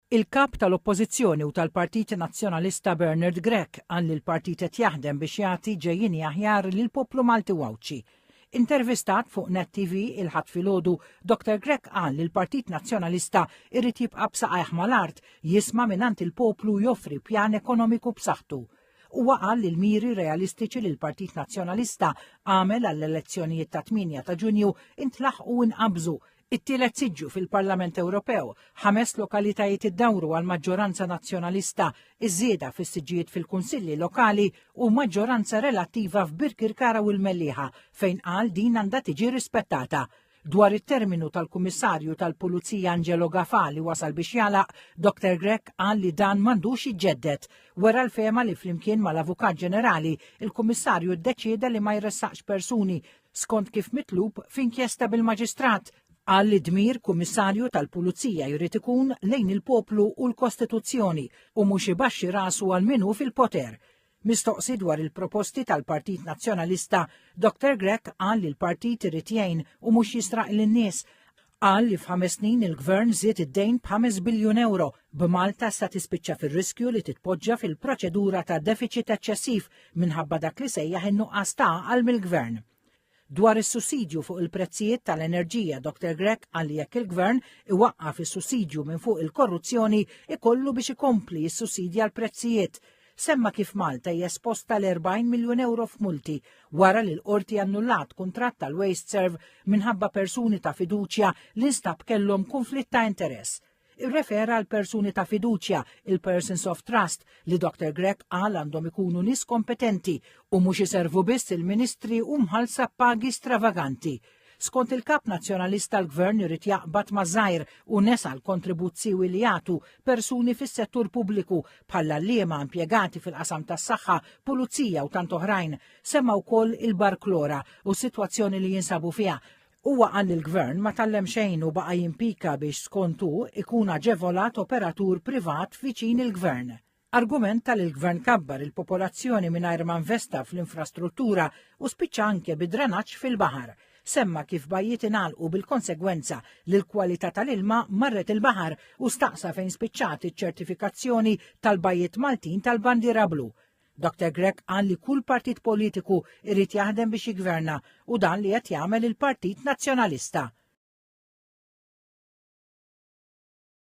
Il-Kap tal-Oppożizzjoni u tal-Partit Nazzjonalista Bernard Grech qal li l-partit qed jaħdem biex jagħti ġejjieni aħjar lill-poplu Malti u Għawdxi. Intervistat fuq Net TV il-Ħadd filgħodu, Dr Grech qal li l-Partit Nazzjonalista jrid jibqa' b'saqajh mal-art, jisma' mingħand il-poplu u joffri pjan ekonomiku b'saħħtu. Huwa qal li l-miri realistiċi li l-Partit Nazzjonalista għamel għall-elezzjonijiet tat-8 ta' Ġunju intlaħqu u nqabżu, It-tielet siġġu fil-Parlament Ewropew, ħames lokalitajiet iddawru għal maġġoranza nazzjonalista, iż-żieda fis-siġġijiet fil-kunsilli lokali u maġġoranza relattiva f'Birkirkara u l-Mellieħa fejn qal din għandha tiġi rispettata. Dwar it-terminu tal-Kummissarju tal-Pulizija Angelo Gafà li wasal biex jagħlaq, Dr Grech qal li dan m'għandux jiġġedded. Wera l-fehma li flimkien mal-Avukat Ġenerali, il-Kummissarju ddeċieda li ma jressaqx persuni skont kif mitlub f'inkjesta bil-Maġistrat, qal li dmir Kummissarju tal-Pulizija jrid ikun lejn il-poplu u l-Kostituzzjoni u mhux ibaxxi rasu għal min hu fil-poter. Mistoqsi dwar il-proposti tal-Partit Nazzjonalista, Dr Grech qal li l-partit irid jgħin u mhux jisraq lin-nies Qal li f'ħames snin il-Gvern żied id-dejn b'ħames biljun ewro, b'Malta sa tispiċċa fir-riskju li titpoġġa fil-proċedura ta' defiċit eċċessiv minħabba dak li sejjaħ in-nuqqas ta' għaqal mill-Gvern. Dwar is-sussidju fuq il-prezzijiet tal-enerġija, Dr Grech qal li jekk il-Gvern iwaqqaf is-sussidju minn fuq il-korruzzjoni ikollu biex ikompli jissussidja l-prezzijiet Semma kif Malta hija esposta l 40 miljun euro f'multi wara li l-qorti annullat kuntratt tal-Waste Serve minħabba persuni ta' fiduċja li nstab kellhom kunflitt ta' interess irrefera għal persuni ta' fiduċja, il-persons of trust, li Dr. Grech qal għandhom ikunu nis kompetenti u mhux iservu biss il-ministri u mħalsa pagi stravaganti Skont il-Kap Nazzjonalista l-Gvern irid jaqbad ma' żgħir u nesa l-kontribut siewi li jagħtu persuni fis-settur pubbliku bħall-għalliema, impjegati fil-qasam tas-saħħa, pulizija u tant oħrajn. Semma wkoll il-Bar Klora u s-sitwazzjoni li jinsabu fiha. Huwa qal li l-Gvern ma tgħallem xejn u baqa' jimpika biex skont hu ikun aġevolat operatur privat viċin il-Gvern. argumenta li l-Gvern kabbar il-popolazzjoni mingħajr ma investa fl-infrastruttura u spiċċa anke bi dranaġġ fil-baħar. Semma kif bajjiet ingħalqu bil-konsegwenza li l-kwalità tal-ilma marret il-baħar u staqsa fejn spiċċat iċ-ċertifikazzjoni tal-bajjiet Maltin tal-bandiera blu. Dr. Grech qal li kull partit politiku irrid jaħdem biex jigverna u dan li qed jagħmel il-Partit Nazzjonalista.